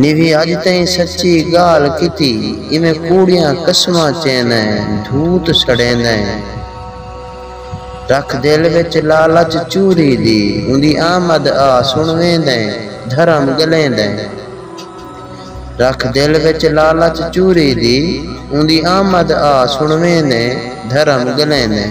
Navy اج تئیں سچی گالھ کیتی ایویں کوڑیاں قسماں چیندیں دھوت سڑیندیں رکھ دل وچ لالچ چوری دی اوندی آمد آ سن ویندیں دھرم گلیندیں رکھ دل وچ لالچ چوری دی اوندی آمد آ سن ویندیں دھرم گلیندیں۔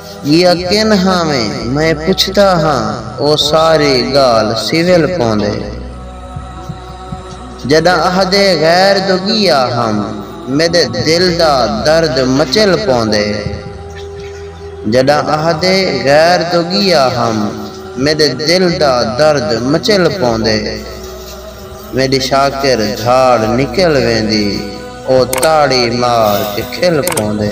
ڳیا کن ہاویں میں پچھدا ہاں او ساری ڳال سول پوندے جݙاں اہدے غیر دو ڳیا ہم میݙے دل دا درد مچل پوندے جݙاں اہدے غیر دو ڳیا ہم میݙے دل دا درد مچل پوندے میݙی شاکر دھاڑ نکل ویندی او تاڑی مار کے کھل پوندے۔